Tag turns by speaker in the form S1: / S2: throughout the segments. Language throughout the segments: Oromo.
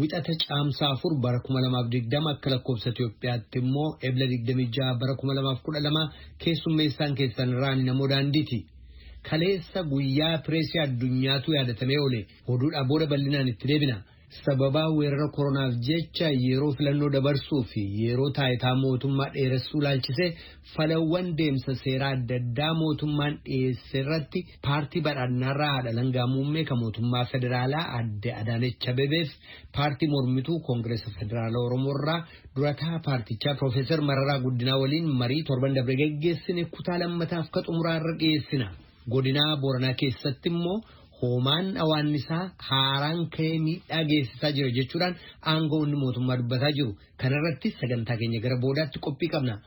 S1: Wixata Caamsaa 4 bara 2020 akka lakkoofsa Itoophiyaatti immoo Ebla 26 bara 2012 keessummeessaan keessan irraan namoo daandiiti. Kaleessa guyyaa pireesii addunyaatu yaadatamee oole oduudhaa booda bal'inaan itti deebina. Sababaa weerara koronaaf jecha yeroo filannoo dabarsuu fi yeroo taayitaa mootummaa dheeressuu laalchisee falawwan deemsa seeraa adda addaa mootummaan dhiyeesse irratti paartii badhaadhinaarraa haadha alangaa muummee kan mootummaa federaalaa adde Adaanech Abebeef paartii mormituu koongireesa federaala Oromoorraa durataa paartichaa Piroofeesar Mararaa Guddinaa waliin marii torban dabre geggeessine kutaa lammataaf ka xumuraa irra dhiyeessina. Godinaa Booranaa keessatti immoo hoomaan awaannisaa haaraan ka'ee miidhaa geessisaa jira jechuudhaan aangawoonni mootummaa dubbataa jiru. Kanarratti sagantaa keenya gara boodaatti qophii qabna.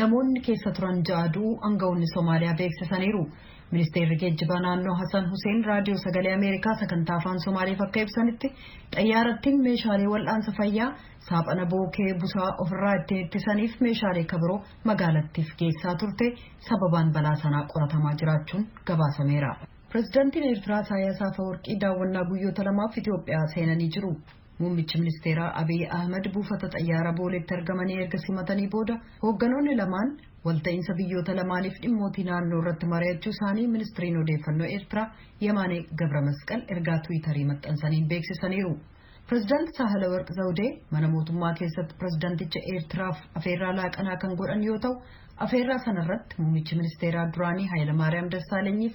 S2: Namoonni keessa turan ja'a du'uu angawoonni Somaaliyaa beeksisaniiru. Ministeerri Geejjibaa naannoo Hasan Huseen Raadiyoo Sagalee Ameerikaa sagantaa Afaan Somaaleef akka ibsanitti xayyaarattiin meeshaalee wal'aansa fayyaa, saaphana bookee busaa ofirraa ittiin ittisaniif meeshaalee ka biroo magaalattiif geessaa turte sababaan balaa sanaa qoratamaa jiraachuun gabaasameera. Pirezidantiin Eertiraa Isaayyaas Afawarqii daawwannaa guyyoota lamaaf Itoophiyaa seenanii jiru. Muummichi ministeeraa Abiy Ahimad buufata xayyaara Booleetti argamanii erga simatanii booda hoogganoonni lamaan walta'iinsa biyyoota lamaaniif dhimmootii naannoo irratti mari'achuu isaanii ministiriin odeeffannoo Eertiraa Yemaanee Gabramasqal ergaa Tiwiitarii maxxansaniin beeksisaniiru. Pireezidaanti Saahalawarq Zawdee mana mootummaa keessatti pireezidaanticha Eertiraaf afeerraa laaqanaa kan godhan yoo ta'u, afeerraa sanarratti muummichi ministeeraa duraanii Hayilamaariyaam Dassaalenyiif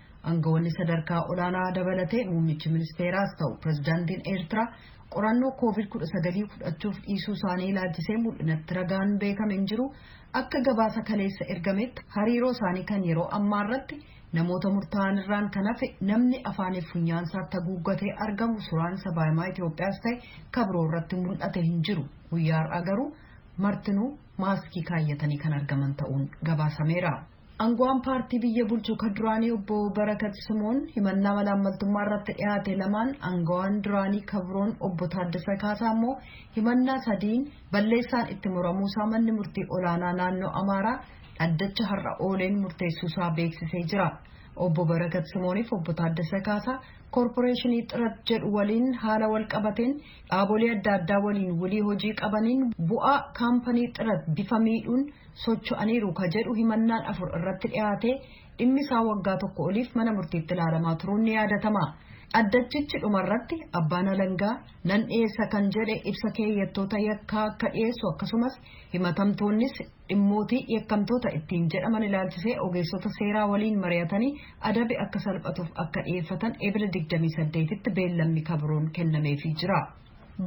S2: Angawoonni sadarkaa olaanaa dabalatee muummichi ministeeraas ta'u pirezidaantiin Eertiraa qorannoo koovid 19 fudhachuuf dhiisuu isaanii ilaalchisee mul'inatti ragaan beekame hin jiru akka gabaasa kaleessa ergametti hariiroo isaanii kan yeroo ammaa irratti namoota murtaa'an irraan kan hafe namni afaaniif funyaan isaatti haguuggatee argamu suuraan sabaahimaa Itoophiyaas ta'e kabiroo irratti mul'ate hin jiru guyyaa har'aa garuu martinuu maaskii kaayyatanii kan argaman ta'uun gabaasameera. Angawaan paartii biyya bulchu ka duraanii obbo Barakat Simoon himannaa malaammaltummaa irratti dhiyaate lamaan angawaan duraanii ka biroon obbo Taaddasa Kaasaa immoo himannaa sadiin balleessaan itti muramuusaa manni murtii olaanaa naannoo Amaaraa dhaddacha har'a ooleen murteessuusaa beeksisee jira. Obbo Barakat Simooniif obbo Taaddasa Kaasaa koorporeeshinii Xirat jedhu waliin haala wal qabateen Dhaabolee adda addaa waliin wlii hojii qabaniin bu'aa kaampanii Xirat bifa miidhuun socho'aniiru ka jedhu himannaan afur irratti dhiyaatee dhimmi isaa waggaa tokko oliif mana murtiitti ilaalamaa turuun ni yaadatama. Dhaddachichi dhumarratti abbaan alangaa nan dhiyeessa kan jedhe ibsa keeyyattoota yakkaa akka dhiyeessu akkasumas Himatamtoonnis dhimmootii yakkamtoota ittiin jedhaman ilaalchisee ogeessota seeraa waliin mari'atanii adabi akka salphatuuf akka dhiyeeffatan Ebila 28tti beellamni ka biroon kennameefii jira.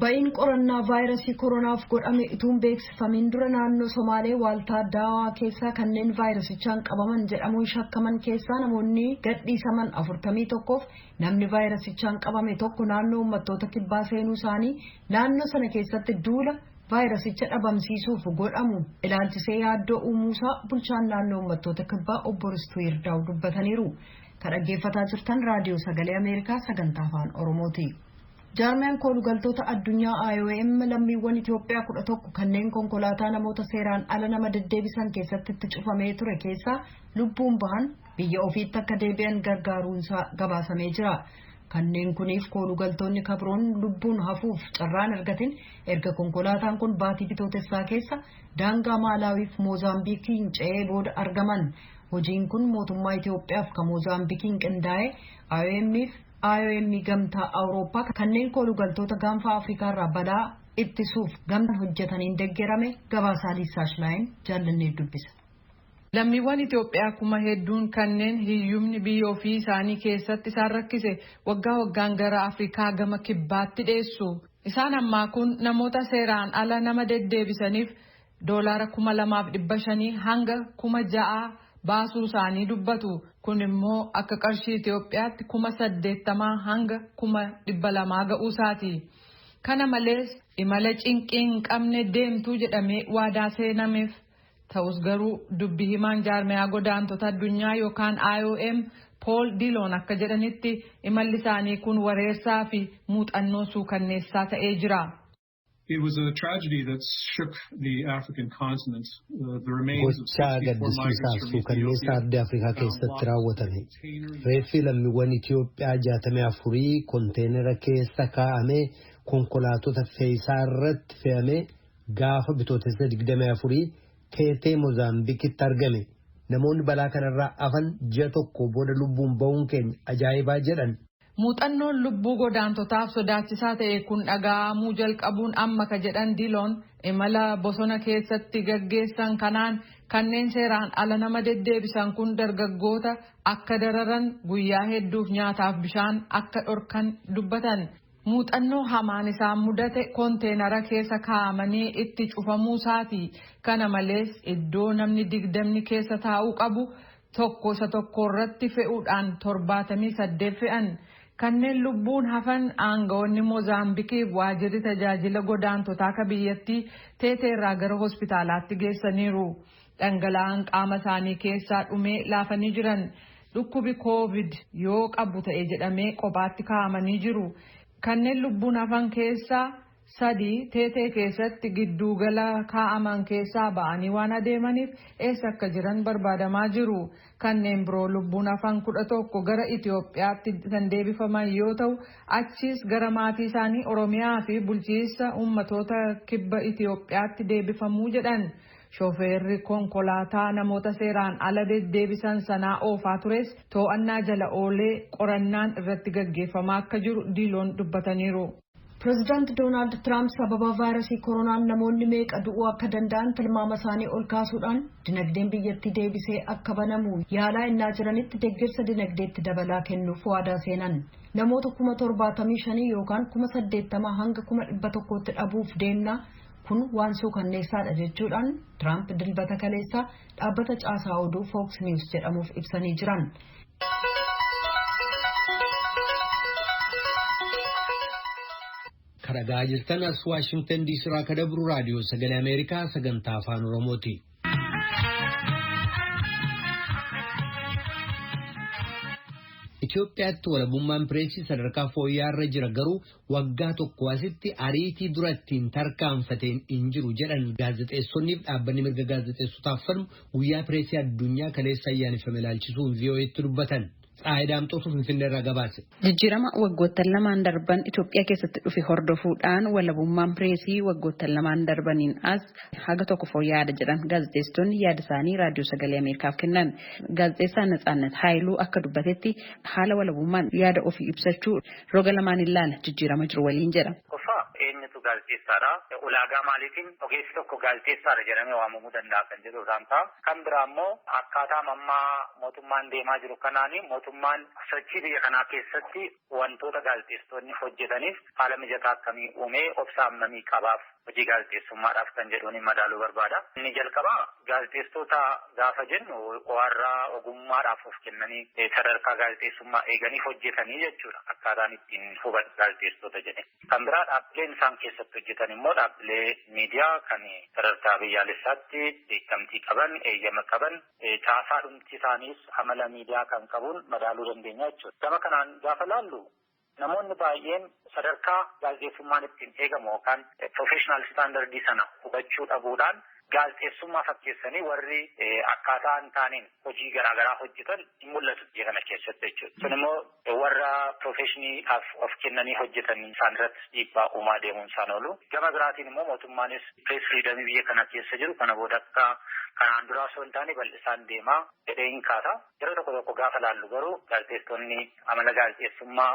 S2: Ba'iin qorannaa vaayirasii koronaaf godhame utuu hin beeksifamiin dura naannoo Somaalee waaltaa Daawaa keessaa kanneen vaayirasichaan qabaman jedhamuun shakkaman keessaa namoonni gadhiisaman 41f namni vaayirasichaan qabame tokko naannoo uummattoota kibbaa seenuu isaanii naannoo sana keessatti duula vaayirasicha dhabamsiisuuf godhamu ilaalchisee yaaddoo uumuusaa bulchaan naannoo uummattoota kibbaa obbo Ristuu Yirdaaw dubbataniiru. Ka dhaggeeffataa jirtan raadiyoo sagalee Ameerikaa sagantaa afaan Oromooti. Jaarmiyaan koolugaltoota addunyaa IOM lammiiwwan Itoophiyaa kudha tokko kanneen konkolaataa namoota seeraan ala nama deddeebisan keessatti itti cufamee ture keessaa lubbuun bahan biyya ofiitti akka deebi'an gargaaruunsaa gabaasamee jira. Kanneen kuniif koolugaltoonni kabiroon lubbuun hafuuf carraan argatin erga konkolaataan kun baatii Bitootessaa keessa daangaa Maalaawiif Moozaambiikiin ce'ee booda argaman. Hojiin kun mootummaa Itoophiyaaf ka Moozaambikiin qindaa'e, IOM'f IOM Gamtaa Awurooppaa kanneen koolugaltoota Gaanfaa Afrikaarraa balaa ittisuuf gamtaan hojjetaniin deggerame, Gabaasaa Liisaa Shilaayin jaallannee dubbisa. Lammiiwwan
S3: Itoophiyaa kuma hedduun kanneen hiyyumni biyya ofii isaanii keessatti isaan rakkise waggaa waggaan gara Afrikaa gama Kibbaatti dheessu. Isaan ammaa kun namoota seeraan ala nama deddeebisaniif doolaara kuma lamaaf dhibba shanii hanga kuma ja'aa baasuu isaanii dubbatu. Kun immoo akka qarshii Itoophiyaatti kuma saddeettamaa hanga kuma dhibba lamaa ga'uu isaati. Kana malees imala cinqii hin qabne deemtu jedhamee waadaa seenameef. Ta'us garuu dubbi himaan jaarmayaa godaantota addunyaa yookaan IOM Pool Diloon akka jedhanitti imalli isaanii kun wareersaa fi muuxannoo suukanneessaa ta'ee jira.
S4: Gochaa gaddisiisaa fi suukanneessaa ardii Afrikaa
S1: keessatti raawwatame. Reeffi lammiiwwan Itiyoophiyaa 64 konteenara keessa kaa'amee konkolaatota fe'isaa irratti fe'amee Gaafa Bitootessa 24 Teetee Mozaambikitti argame. Namoonni balaa kanarraa afan ji'a tokko booda lubbuun ba'uun keenya ajaa'ibaa jedhan. Muuxannoon
S3: lubbuu godaantotaaf sodaachisaa ta'e kun dhagaa'amuu jalqabuun amma ka jedhan Diloon, imala bosona keessatti gaggeessan kanaan kanneen seeraan ala nama deddeebisan kun dargaggoota akka dararan, guyyaa hedduuf nyaataaf bishaan akka dhorkan dubbatan. Muuxannoo hamaan isaan mudate konteenara keessa kaa'amanii itti cufamuu isaati. Kana malees, iddoo namni digdamni keessa taa'uu qabu tokko isa tokko irratti fe'uudhaan torbaatamii saddeet fe'an. Kanneen lubbuun hafan aanga'oonni Mozaambikiif waajirri tajaajila godaantotaa ka biyyattii Teeteerraa gara hospitaalaatti geessaniiru. Dhangala'aan qaama isaanii keessaa dhumee laafanii jiran. Dhukkubi Covid yoo qabu ta'e jedhamee qophaatti kaa'amanii jiru. Kanneen lubbuun hafan keessaa sadii Teetee keessatti gidduu gala kaa'aman keessaa ba'anii waan adeemaniif eessa akka jiran barbaadamaa jiru. Kanneen biroo lubbuun hafan 11 gara Itoophiyaatti kan deebifaman yoo ta'u, achiis gara maatii isaanii Oromiyaa fi bulchiinsa ummatoota kibba Itoophiyaatti deebifamu jedhan. Shofeerri konkolaataa namoota seeraan ala deddeebisan sanaa oofaa tures too'annaa jala oolee qorannaan irratti gaggeeffamaa akka jiru Diiloon dubbataniiru. Pirezidaant
S2: Doonaald Tiraamp sababa vaayrasii koronaan namoonni meeqa du'uu akka danda'an tilmaama isaanii ol kaasuudhaan dinagdeen biyyattii deebisee akka banamu yaalaa ennaa jiranitti deggersa dinagdeetti dabalaa kennuuf waadaa seenan. Namoota kuma torbaatamii shanii yookaan kuma saddeettamaa hanga kuma dhibba tokkootti dhabuuf deemna, Kun waan suukanneessaadha jechuudhaan Tiraamp Dilbata kaleessaa dhaabbata caasaa oduu Fox News jedhamuuf ibsanii jiran.
S1: Karagaa jirtan as Waashingtan diisii irraa akka dabru raadiyoo sagalee Ameerikaa sagantaa afaan Oromooti. Itoophiyaatti walabummaan pireesii sadarkaa fooyya'aa irra jira garuu Waggaa tokkoo asitti ariitii dura ittiin tarkaanfateen hin jiru jedhan gaazexeessonniif dhaabbanni mirga gaazexeessotaaf falmu guyyaa pireesii addunyaa kaleessa ayyaaneffame ilaalchisuun VOAtti dubbatan. Tsaayi Daamxootu Finfinneerraa gabaase. Jijjiirama waggoottan
S5: lamaan darban Itoophiyaa keessatti dhufe hordofuudhaan walabummaan pireesii waggoottan lamaan darbaniin as haga tokko fooyya'aadha jedhan gaazexeessitoonni yaada isaanii Raadiyoo Sagalee Ameerikaaf kennan. Gaazexeessaa Natsaannat Haayiluu akka dubbatetti haala walabummaan yaada ofii ibsachuu Roga lamaan hin laala, jijjiirama jiru waliin jedha. Tokkoffaa, eenyutu
S6: gaazexeessaadha? Ulaagaa maaliitiin ogeessi tokko gaazexeessaadha jedhamee waamamuu danda'a kan jedhu irraan ka'a. Kan biraa immoo akkaataama amma mootummaan deemaa jiru kanaan mootummaan sochii biyya kanaa keessatti wantoota gaazexeessitoonni hojjetaniif haala mijataa akkamii uumee obsa hammamii qabaaf? Hojii gaazexeessummaadhaaf kan jedhuunin madaaluu barbaada. Inni jalqabaa gaazexeessitoota gaafa jennu warra ogummaadhaaf of kennanii sadarkaa gaazexeessummaa eeganii hojjetanii jechuudha akkaataan ittiin hubadhu gaazexeessitoota jedhee. Kan biraa dhaabbileen isaan keessatti hojjetan immoo dhaabbilee miidiyaa kan sadarkaa biyyaalessaatti beekamtii qaban, eeyyama qaban, caasaa dhumti isaaniis amala miidiyaa kan qabuun madaaluu dandeenya jechuudha. Gama kanaan gaafa laallu Namoonni baay'een sadarkaa gaazexeessummaan ittiin eegamu yookaan professional standard sana hubachuu dhabuudhaan gaazexeessummaa fakkeessanii warri akkaataa hin taaneen hojii garaa garaa hojjetan hin mul'atu biyya kana keessatti jechuudha. Sun immoo warra profeshiiniidhaaf of kennanii hojjetan isaan irrattis dhiibbaa uumaa deemuun isaa hin oolu. Gama biraatiin immoo mootummaanis press freedom biyya kana keessa jiru kana booda akka kanaan duraa osoo hin taane bal'isaan deema jedheen kaasa. Yeroo tokko tokko gaafa laallu garuu gaazexeessitoonni amala gaazexeessummaa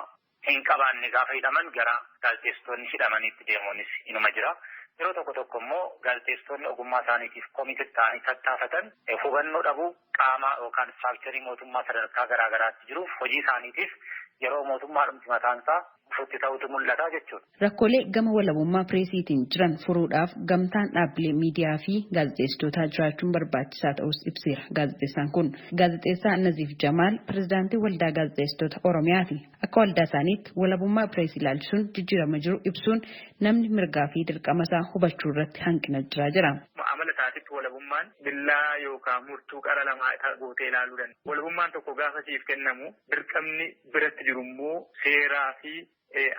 S6: hin qabaanne gaafa hidhaman gara gaazexeessitoonni hidhamaniitti deemuunis inuma jira. Yeroo tokko tokko immoo gaazexeessitoonni ogummaa isaaniitiif committed ta'anii tattaafatan hubannoo dhabuu qaama yookaan structure mootummaa sadarkaa garaa garaatti jiruuf hojii isaaniitiif yeroo mootummaadhumti mataan isaa futti ta'utu mul'ata jechuudha. Rakkoolee gama
S5: walabummaa pireesiitiin jiran furuudhaaf gamtaan dhaabbilee miidiyaa fi gaazexeessitootaa jiraachuun barbaachisaa ta'uus ibseera gaazexeessaan kun. Gaazexeessaa Naziif Jamaal pirezidaantii Waldaa Gaazexeessitoota Oromiyaati. Akka waldaa isaaniitti walabummaa pireesii ilaalchisuun jijjiirama jiru ibsuun namni mirgaa fi dirqama isaa hubachuu irratti hanqina jira jedha. Amala isaatitti
S7: walabummaan billaa yookaan murtuu qara lamaa gootee ilaaluu danda'a. Walabummaan tokko gaafa siif kennamu dirqamni biratti jiru immoo seeraa fi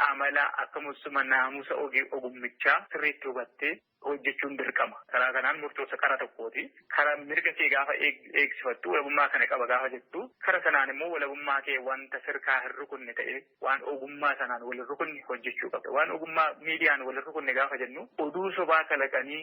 S7: amala akkamussuma naamusa ogummichaa sirriitti hubattee hojjechuun dirqama. Karaa kanaan murtoofta kara tokkooti. Kara mirga kee gaafa eegsifattu walabummaa kana qaba gaafa jettu kara sanaan immoo walabummaa kee wanta sirkaa hin rukunne ta'ee waan ogummaa sanaan wal hin rukunne hojjechuu qabda. Waan ogummaa miidiyaan wal hin rukunne gaafa jennu oduu sobaa kalaqanii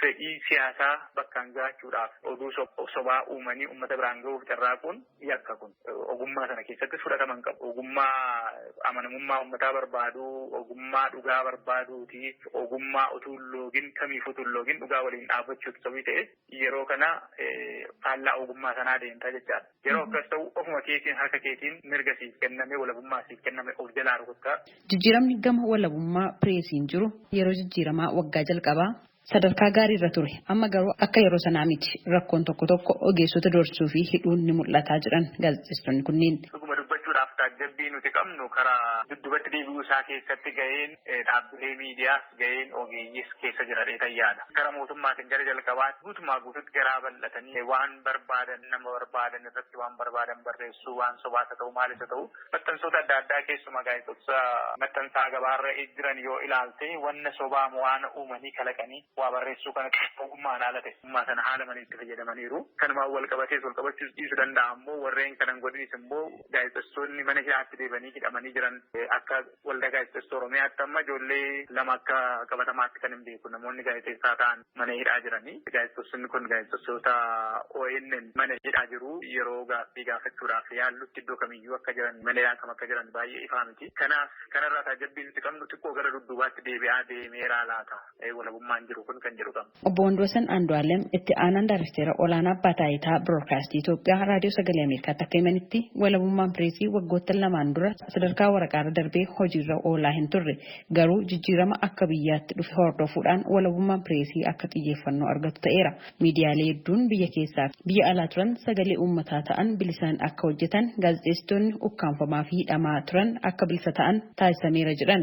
S7: Fedhii siyaasaa bakkaan ga'achuudhaaf oduu sobaa uumanii ummata biraan ga'uuf carraaquun yakka kun. Ogummaa sana keessattis fudhatama hin qabu. Ogummaa amanamummaa ummataa barbaadu, ogummaa dhugaa barbaaduuti, ogummaa utuu hin loogin, kamiifuu utuu hin loogin dhugaa waliin dhaabbachuuti. Sobii ta'ees yeroo kana faallaa ogummaa sanaa deemta jechaadha. Yeroo akkas ta'u ofuma keetiin harka keetiin mirga siif kenname, walabummaa siif kenname of jalaa rukutta. Jijjiiramni gama
S5: walabummaa pireesiin jiru yeroo jijjiiramaa waggaa jalqabaa sadarkaa gaarii irra ture. Amma garuu akka yeroo sanaa miti. Rakkoon tokko tokko ogeessota doorsuu fi hidhuun ni mul'ata jedhan gaazexeessitoonni kunneen. Dhuguma dubbachuudhaaf
S7: taajjabbii nuti qabnu karaa duddubatti deebi'uu isaa keessatti gaheen. Dhaabbilee miidiyaas gaheen ogeeyyiis keessa jira jedheetan yaada. Gara mootummaatiin gara jalqabaatti guutumaa guututti garaa bal'atanii waan barbaadan nama barbaadan irratti waan barbaadan barreessuu waan sobaas haa ta'u maalis haa ta'u maxxansoota adda addaa keessumaa gaazexoota maxxansaa gabaarra jiran yoo ilaalte wanna sobaa waan uumanii kalaqanii waa barreessuu kana ogummaan haala ta'e ogummaa sana haala malee itti fayyadamaniiru. Kanumaan wal qabatees wal qabachuus dhiisu danda'a ammoo warreen kanan godhinis immoo gaazexessoonni mana hidhaatti deebanii hidhamanii jiran akka Waldaa Gaazexeessitoota Oromiyaatti amma ijoollee lama akka qabatamaatti kanin beeku namoonni gaazexeessaa ta'an mana hidhaa jiranii. Gaazexeessonni kun gaazexeessitoota ONM mana hidhaa jiru. Yeroo gaaffii gaafachuudhaaf yaallutti iddoo kamiyyuu akka jiran mana hidhaa kam akka jiran baay'ee ifaa miti. Kanaaf kanarraa taajjabbii nuti qabnu xiqqoo gara dudduubaatti deebi'aa deemeeraa laata walabummaan jiru kun kan jedhu qabna. Obbo Wandwasan
S5: Andualem itti aanaan daarekteera olaanaa Abbaa Taayitaa Biroodkaastii Itoophiyaa Raadiyoo Sagalee Ameerikaatti akka himanitti, walabummaan pireesii waggoottan lamaan dura sadarkaa waraqaarra darbee hojiirra oolaa hin turre. Garuu jijjiirama akka biyyaatti dhufe hordofuudhaan walabummaan pireesii akka xiyyeeffannoo argatu ta'eera. Miidiyaalee hedduun biyya keessaafi biyya alaa turan sagalee uummataa ta'an bilisaan akka hojjetan, gaazexeessitoonni ukkaamfamaafi hidhamaa turan akka bilisa ta'an taasisameera jedhan.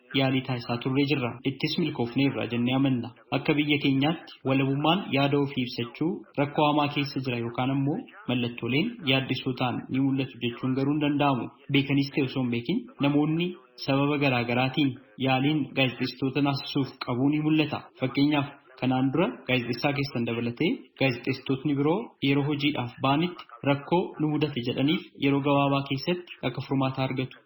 S8: yaalii taasisaa turree jirra. Ittis milkoofneerra jennee amanna. Akka biyya keenyaatti walabummaan yaada ofii ibsachuu rakkoo hamaa keessa jira yookaan ammoo mallattooleen yaaddessoo ta'an ni mul'atu jechuun garuu hin danda'amu. Beekaniis ta'e osoo hin beekin namoonni sababa garaa garaatiin yaaliin gaazexeessitoota naasisuuf qabuu ni mul'ata. Fakkeenyaaf kanaan dura gaazexeessaa keessan dabalatee gaazexeessitootni biroo yeroo hojiidhaaf ba'anitti rakkoo nu mudate jedhaniif yeroo gabaabaa keessatti akka furmaataa argatu.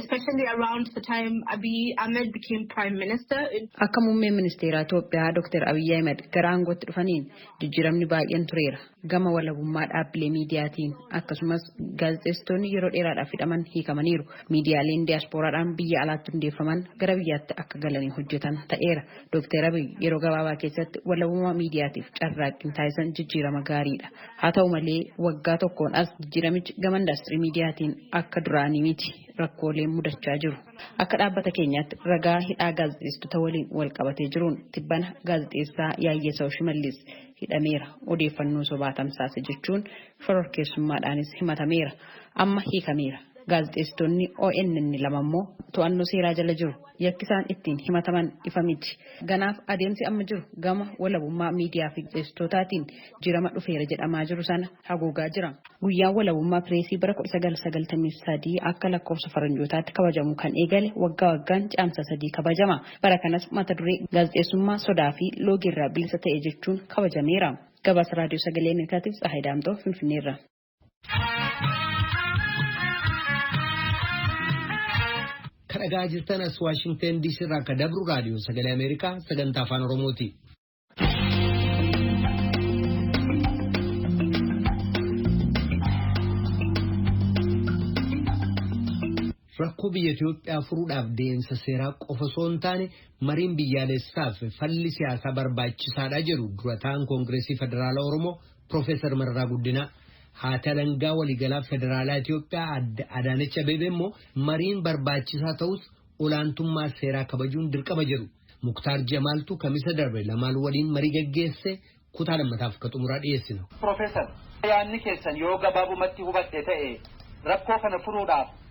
S5: especially
S9: around the time Abiy Ahmed became prime minister. Akka muummeen
S5: ministeeraa Itoophiyaa Dr. Abiy Ahmed gara aangootti dhufaniin jijjiiramni baay'een tureera. Gama walabummaa dhaabbilee miidiyaatiin akkasumas gaazexeessitoonni yeroo dheeraadhaaf hidhaman hiikamaniiru. Miidiyaaleen diyaaspooraadhaan biyya alaatti hundeeffaman gara biyyaatti akka galanii hojjetan ta'eera. Dooktar Abiy yeroo gabaabaa keessatti walabummaa miidiyaatiif carraaqqiin taasisan jijjiirama gaariidha. Haa ta'u malee waggaa tokkoon as jijjiiramichi gama indaastirii miidiyaatiin akka duraanii miti rakkooleen mudachaa jiru. Akka dhaabbata keenyaatti ragaa hidhaa gaazexeessitoota waliin walqabatee jiruun tibbana gaazexeessaa Yaayyasaw Shimallis hidhameera odeeffannoo sobaa tamsaase jechuun shororkeessummaadhaanis himatameera. Amma hiikameera. Gaazexeessitoonni ONN lama immoo to'annoo seeraa jala jiru. Yakki isaan ittiin himataman ifa miti. Ganaaf adeemsi amma jiru gama walabummaa miidiyaa fi gaazexeessitootaatiin jirama dhufeera jedhamaa jiru sana haguugaa jira. Guyyaan Walabummaa Pireesii bara 1993 akka lakkoofsa Faranjootaatti kabajamuu kan eegale waggaa waggaan Caamsaa 3 kabajama. Bara kanas mata duree Gaazexeessummaa sodaa fi loogiirraa bilisa ta'e jechuun kabajameera. Gabaasa Raadiyoo Sagalee Ameerikaatiif Tsahaay Daamxoo Finfinneerra.
S1: Kan dhagaa jirtan as Waashingtan DC irraa akka dabru raadiyoo sagalee Ameerikaa sagantaa afaan Oromooti. Rakkoo biyya Itoophiyaa furuudhaaf deemsa seeraa qofa osoo hin taane mariin biyyaalessaaf falli siyaasaa barbaachisaadha jedhu durataan Koongireesii Federaalaa Oromoo Pirofeesar Mararaa Guddinaa. Haati Alangaa Waliigalaa Federaalaa Itoophiyaa Aadde Adaanech Abeebee immoo mariin barbaachisaa ta'us olaantummaa seeraa kabajuun dirqama jedhu. Muktaar Jamaaltu kamisa darbe lamaan waliin marii gaggeesse kutaa lammataaf akka xumuraa dhiyeessina. Pirofeesar,
S10: yaadni keessan yoo gabaabumatti hubadhe ta'e rakkoo kana furuudhaaf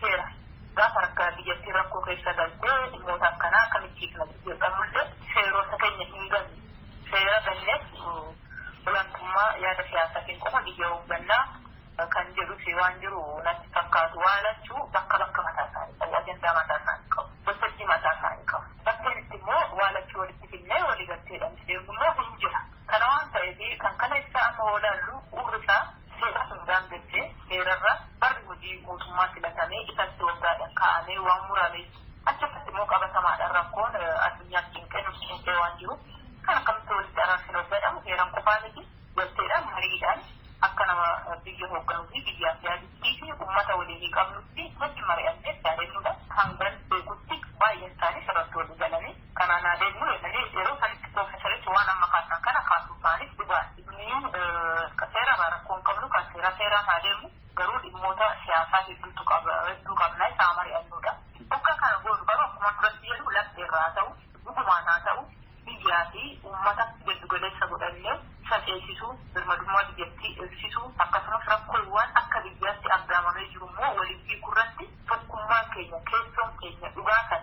S11: seera. Gaafa harkaa biyyattiin rakkoo keessa galte dhimmoota akkanaa akkamitti hiikna jedhamullee seerota keenya hin ganne. Seera ganneef olaantummaa yaada siyaasaatiin qofa biyya hoogganna kan jedhus waan jiru natti fakkaatu. Waa lachuu bakka bakka mataa isaanii qabu. Ajandaa mataa isaanii qabu. Waltajjii mataa isaanii qabu. Bakkeen itti immoo waa lachuu walitti fidnee waliigalteedhaan itti deemnu immoo hin jira. Kana waan ta'eef kan kaleessaa amma yoo ilaallu bu'uurri isaa Seera sun daangessee heerarra barri hojii guutummaatti latamee ifatti waggaadhan kaa'amee waan murameef achirratti immoo qabatamaadhan rakkoon addunyaas cinqee nus cinqee waan jiruuf kan akkamitti walitti araarsina yoo jedhamu heeran qofaa miti galteedhan mariidhan akka nama biyya hoogganuu fi biyyaaf yaaduttii fi ummata waliinii qabnutti wajjin mari'annee itti adeemnudha hangan beekutti baay'een isaanii irratti walii galanii Kanaan haa deemnu jedhanii yeroo sanitti piroofeesarichi waan amma kaasan kana kaasuu isaaniif dhugaadha. Nuyi seerarraa rakkoo hin qabnu kan seeraa seeraan haa deemu garuu dhimmoota siyaasaa hedduutu qaba hedduu qabna isa haa mari'annuudha. Oggaa kana goonu garuu akkuma duratti jedhu lafteerraa haa ta'u dhugumaan haa ta'u biyyaa fi uummata giddu galeessa godhannee isa ceesisuu birmadummaa biyyattii eegsisuu akkasumas rakkoowwan akka biyyaatti aggaamamee jiru immoo waliin hiikurratti tokkummaan keenya keessoon keenya dhugaa kan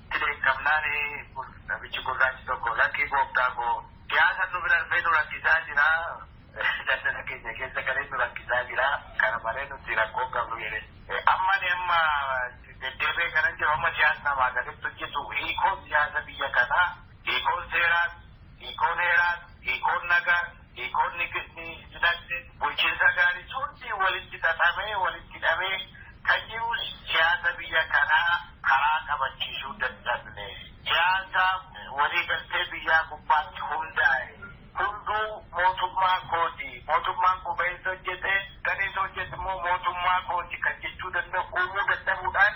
S12: Dhibeen qabnaani namichi gurraachi tokko lakkii gooftaa koo siyaasan nu bira dhufee nu rakkisaa jira, daldala keenya keessa galee nu rakkisaa jira, kana malee nuti rakkoo hin qabnu jedhe. Amma ani amma deddeebi'ee kanan jedhu amma siyaasni namaa gaditti hojjetu hiikoon siyaasa biyya kanaa, hiikoon seeraas, hiikoon heeraas, hiikoon nagaas, Hiikoonni gidni dinagde, bulchiinsa gaarii hundii walitti xaxamee, walitti hidhamee kan jiruus siyaasa biyya kanaa karaa qabachiisuu dadhabne. Siyaasa walii galtee biyyaa gubbaatti hundaa'e, hunduu mootummaa kooti, mootummaan koo bahee isa hojjete, galee isa hojjete immoo mootummaa kooti kan jechuu danda'u uumuu dadhabuudhaan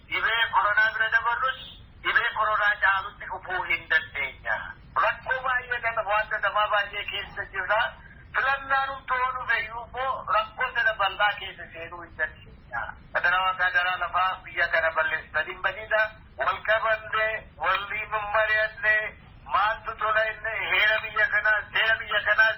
S12: Dhibee koronaa bira dabarrus dhibee koronaa caalutti dhufuu hin dandeenya. Rakkoo baay'ee kana mo'atta namaa baay'ee keessa jirra. Filannaan hunduu yoo dhufe iyyuu immoo rakkoo sana bal'aa keessa seenuu hin dandeenya. Adaraa Waaqaa adaraa lafaa biyya kana balleessitanii hin badiina. Wal qabamne, waliin hin mari'anne, maaltu tola inni heera biyya kanaas, seera biyya kanaas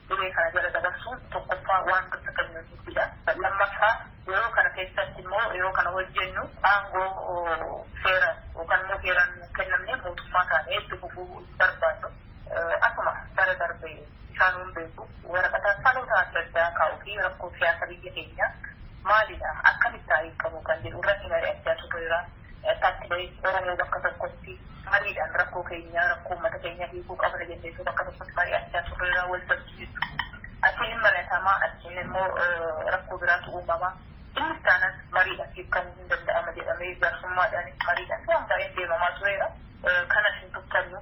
S11: duree kana jala dabarsuun tokkoffaa waan dursa kennuu dhiisuudha. Lammaffaa yeroo kana keessatti immoo yeroo kana hojjennu aangoo seera yookaan immoo heeraan nuuf kennamne mootummaa taanee itti fufuu hin barbaannu. Akkuma bara darbe isaanuu hin beeku waraqata dhaloota adda addaa kaa'uu fi rakkoo siyaasa biyya keenyaa maalidha akkamitti hiikamuu kan jedhu irratti mari'achaa turreera. Taatti bahi Oromoo bakka tokkotti mariidhaan rakkoo keenya rakkoo ummata keenya hiikuu qabna jennee osoo bakka tokkotti mari'achaa turreerraa wal dhabbii jechuudha. Achiin hin mari'atamaa achiin immoo rakkoo biraatu uumama. Innis taanaan mariidhaan hiikkamuun hin danda'ama jedhamee jaarsummaadhaanis mariidhaan waan baay'een deemamaa tureera. Kanas hin tuffannu.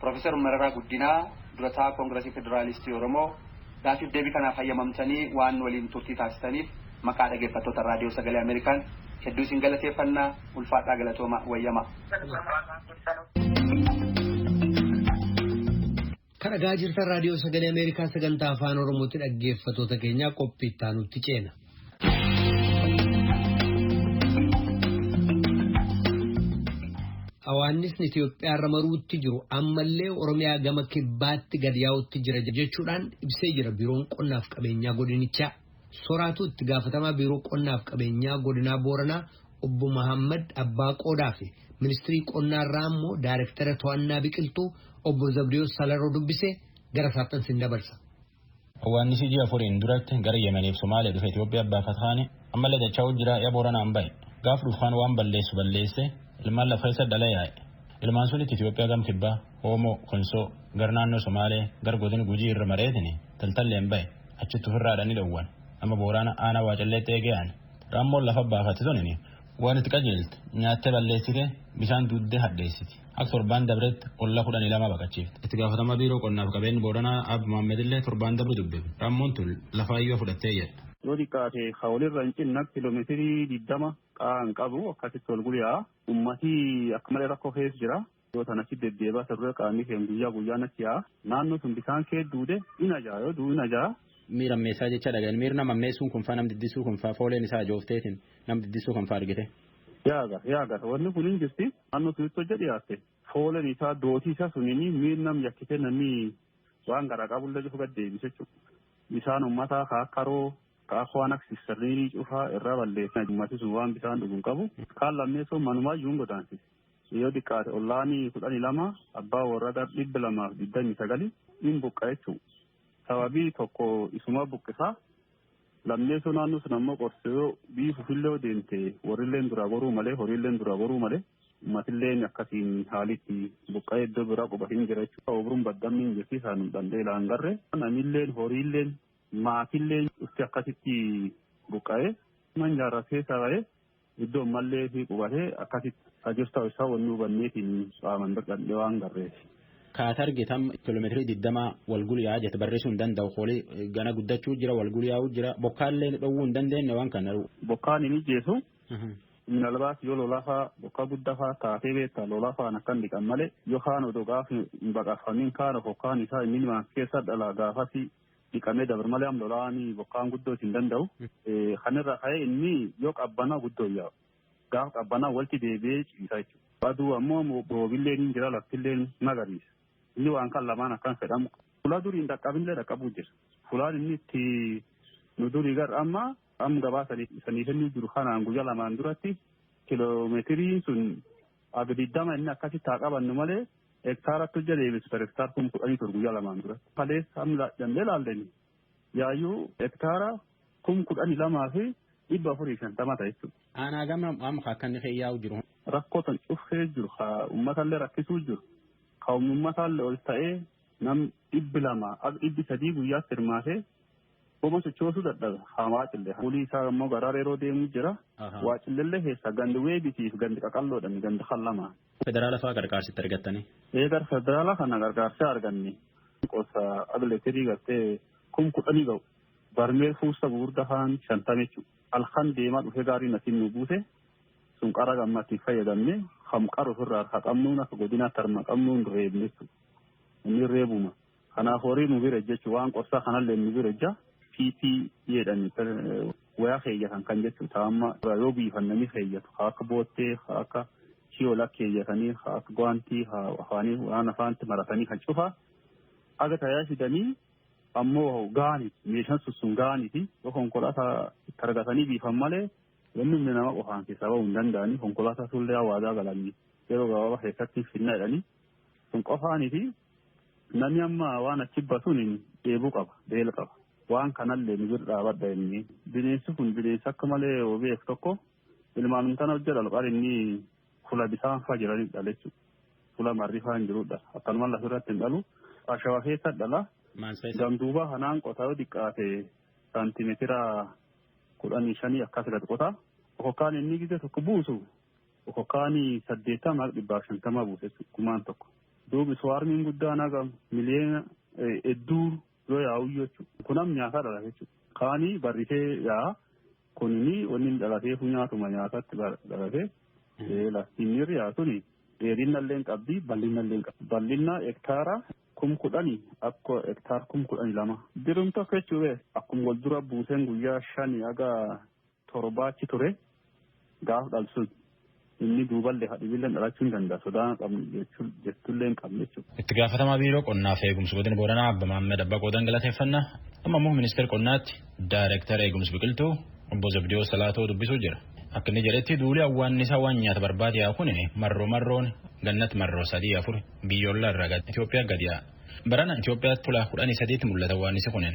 S10: Pirofeesar Mararaa Guddinaa, Durataa Kongirasii Federaalistii Oromoo, Gaaffiif deebii kanaaf hayyamamtanii waan nu waliin turtii taasistaniif maqaa dhageeffattoota Raadiyoo Sagalee Ameerikaan hedduu isin galateeffanna. Ulfaadhaa galatoomaa. Wayyamaa.
S1: Kan dhagaa jirtan Raadiyoo Sagalee Ameerikaa sagantaa Afaan Oromootti dhaggeeffatoota keenyaa qophii itti aanutti ceena. Hawaannisni Itoophiyaarra maruutti jiru ammallee Oromiyaa gama kibbaatti gad yaa'utti jira jechuudhaan ibsee jira biiroon qonnaaf qabeenyaa godinichaa. Soraatu itti gaafatamaa biiroo qonnaaf qabeenyaa godinaa Booranaa obbo Mahammad Abbaa Qoodaa fi ministirii qonnaarraa immoo daayirektara to'annaa biqiltuu obbo Zabdiyoos Salaroo dubbisee gara saaphansi hin dabarsa. Awwaannisi
S13: ji'a afuriin duratti gara Yemeniif Somaalee dhufe Itoophiyaa baafat kaani ammallee dacha'uu jira ya Booranaan bahe. Gaaf dhufu kaan waan balleessu balleessee ilmaan laf keessa dhala yaa'e. Ilmaan sunitti Itoophiyaa gam kibbaa, Oomoo, Konsoo, gar naannoo Somaalee, gar godin Gujii irra mareetini Taltalleen bahe. Achitti ufirraa dhani dhowwan. Amma Booraana aanaa Waacalleetti eegee aane. Raammoon lafa baafatti tunini Waan itti qajeelte nyaattee balleessite bisaan duuddee hadheessiti. Akka torbaan dabretti olla kudhanii lama baqachiifte. Itti gaafatamaa biiroo qonnaaf qabeenyi Booranaa Aab Mohaamedillee torbaan dabre dubbifne. Rammoon tun lafaayyuu fudhattee jedha. Yoo xiqqaate ka
S14: walirra hin cinna kilomeetirii diddama qa'aa hin qabu akkasitti wal guli yaa'a. Ummati akka malee rakkoo keessa jira. Yoo tan achi deddeebaa isa dura qaamii keen guyyaa guyyaan achi yaa'a. Naannoo sun bisaan kee duude in aja'a yoo du'u in aja'a. Miira ammeessaa jecha
S13: dhagayan miir nam ammeessuun kunfaa nam diddissuu kunfaa fooleen isaa ajoofteetin nam diddissuu kanfaa argite. Yaaga yaaga
S14: wanni kun in jirti naannoo sunitti hojja dhiyaatte foolen isaa dootii isaa sunini miir nam yakkite namni waan garaa qabullee cufu gad deebise jechuudha. Bisaan ummataa ka akka haroo ka akka waan akka sissarniinii cufaa irraa balleessan ummati sun waan bisaan dhugu hin qabu kaan lammeessoon manumaayyuu hin godaansise. Yoo diqqaate ollaani 12 abbaa worra gar 229 in buqqa jechu. Sababii tokko isuma buqqisa. Lammeessoo naannoo sun ammoo qorse yoo biifufillee yoo deemte worrilleen duraa goruu malee horiilleen duraa goruu malee ummatilleen akkasiin haalitti buqqa'ee iddoo biraa quba hin jira jechuudha. Oobruun baddamni hin jirti isaan dhandhee laan garre. Namilleen horiilleen maatilleen dhufti akkasitti buqqa'ee man jaarraa keessa ba'ee Iddoo ammallee fi qubatee akkasitti ka jirtu isaa wanni hubanneetiin qaaman dadhabdee waan garreef. Kaat argite
S13: amma kiiloomeetirii digdamaa wal guliyaa jette barreessuu hin danda'u koolii gana guddachuu jira wal guliyaa'uu jira bokkaallee dhowwuu hin dandeenye waan kana. Bokkaan hin ijjeesu.
S14: Minalbaas yoo lolafaa bokkaa guddafaa taatee beektaa lolafaan akkan dhiqan malee yoo kaan odoo gaafa hin baqafamin kaan ofokkaan isaa inni waan keessa dhala gaafasi dhiqamee dabre malee am lolaani bokkaan guddoo isin danda'u. Kanirra ka'ee inni yoo qabbanaa guddoo yaa'u. Gaafa qabbanaa walitti deebi'ee ciisa jechuudha. Aduu ammoo boobillee ni jira laftillee magariisa. Inni waan kan lamaan akkan fedhamu. Fulaa durii hin dhaqqabinillee dhaqqabuu jira. Fulaan inni itti nu durii gara amma amma gabaa sanii kennuu jiru kanaan guyyaa lamaan duratti kiloomeetiriin sun aga digdama inni akkasitti haa qabannu malee Hektaara akka hojja deebis per hektaar kum kudhanii ture guyyaa lamaan dura. Kaleessa amma dandee laalleni yaayuu hektaara kum kudhanii lamaa fi dhibba afurii shantama ta'a jechuudha. Aanaa gama amma
S13: akka inni kee yaa'u jiru. Rakkoo tan cufee
S14: jiru ka uummatallee rakkisuu jiru ka uummatallee ol ta'ee nam dhibbi lama akka dhibbi sadii guyyaatti hirmaatee Homa sochoosuu dadhabe. Haa waacille. Fuulii isaa ammoo garaa reeroo deemuu jira. Waacillellee keessaa gandi weebitii fi gandi qaqalloodhani gandi kan lama. Federaala faa qarqaarsi
S13: itti argattanii? Ee gar federaala
S14: kana qarqaarsi arganne. Qosa ag letirii gartee kum kudhanii ga'u. Barmeel fuusta gugurda kaan shantama jechuu. Alkan deemaa dhufee gaarii natiin nu buuse. Sun qara gamma ittiin fayyadamne kam qara ofirraa harka qabnuun akka godinaatti harma qabnuun reebne jechuudha. Inni reebuma. Kanaaf horii nu bira ejjachu waan qorsaa kanalleen nu bira ejja PP jedhan wayaa keeyyatan kan jechu taa amma yoo biifannanii keeyyatu haa akka boottee haa akka shiyola keeyyatanii haa akka gwaantii haa afaanii waan afaanti maratanii kan cufaa aga tayaa fidanii ammoo gaaniti meeshaan sun sun gaaniti yoo konkolaataa itti argatanii biifan malee wanni humni nama qofaan keessaa ba'uu hin danda'anii konkolaataa sullee hawaadaa galanii yeroo gabaabaa keessatti hin finna jedhanii sun qofaaniti Nami amma waan achi basuun dheebuu qaba, beel qaba. Waan kanallee nu bira dhaabadha inni. Bineensi kun bineensa akka malee obeef tokko ilmaanum tana hojja dhalu qar inni fula bisaan faa jiranii dhala jechuudha. Fula marri faa hin jirudha. Akkanuma lafa irratti hin dhalu. Ashawa keessa dhala. Gamduubaa kanaan qotaa yoo xiqqaate saantimeetira kudhanii shanii akkas irratti qotaa. Okokkaan inni gidda tokko buusu Oko kaani saddeettama haga dhibbaaf shantama buusa jechuudha gumaan tokko. Duubi suwaarmiin guddaan haga miliyeena hedduu yoo yaa'uyyuu jechuudha. Kun am nyaataa dhalata jechuudha. Kaani barrisee yaa'a. Kunini wanni dhalatee funyaatuma nyaatatti dhalatee lastiinirri yaa suni dheerinnallee qabdi bal'innallee qabdi. Bal'inna hektaara kum kudhani akka hektaar kum kudhani lama. Dirumta jechuudha akkuma wal dura buuseen guyyaa shani haga torbaa achi ture gaaf dhalsun inni duuballe hadhibilleen dhalachuu hin danda'a sodaa qabnu jettullee hin qabne jechuudha. Itti gaafatamaa biiroo
S13: qonnaa fi eegumsa godina Booranaa Abba Maammed Abbaa Qoodan galateeffannaa amma immoo ministeera qonnaatti daayireektara eegumsa biqiltuu obbo Zabdiyoo Salaatoo dubbisuu jira. Akka inni jedhetti duuli awwaannisaa waan nyaata barbaade yaa kun marroo marroon gannatti marroo sadii afur biyyoolaa irraa Itoophiyaa gadi yaa'a. Barana Itoophiyaatti tulaa kudhanii sadiitti mul'ata awwaannisi kunin.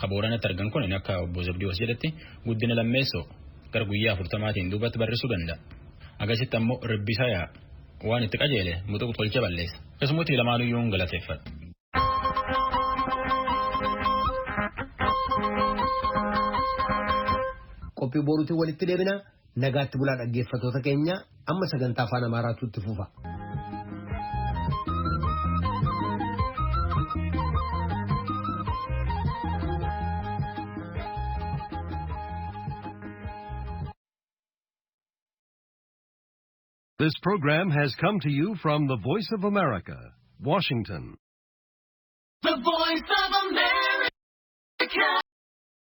S13: Ka Booranatti argan kun akka obbo Zabdiyoos jedhetti guddina lammeessoo gara guyyaa afurtamaatiin duubatti barrisuu danda'a. Agasitti ammoo ribbisaa yaa'a. Waan itti qajeele muxuq tolcha balleessa. Keessummooti lamaanuyyuun galateeffadha.
S1: Qophii boruutiin walitti deebina. Nagaatti bulaa dhaggeeffatoota keenya amma sagantaa afaan Amaaraatu itti fufa.
S15: This program has come to you from the Voice of
S16: America,
S15: Washington. The Voice of America.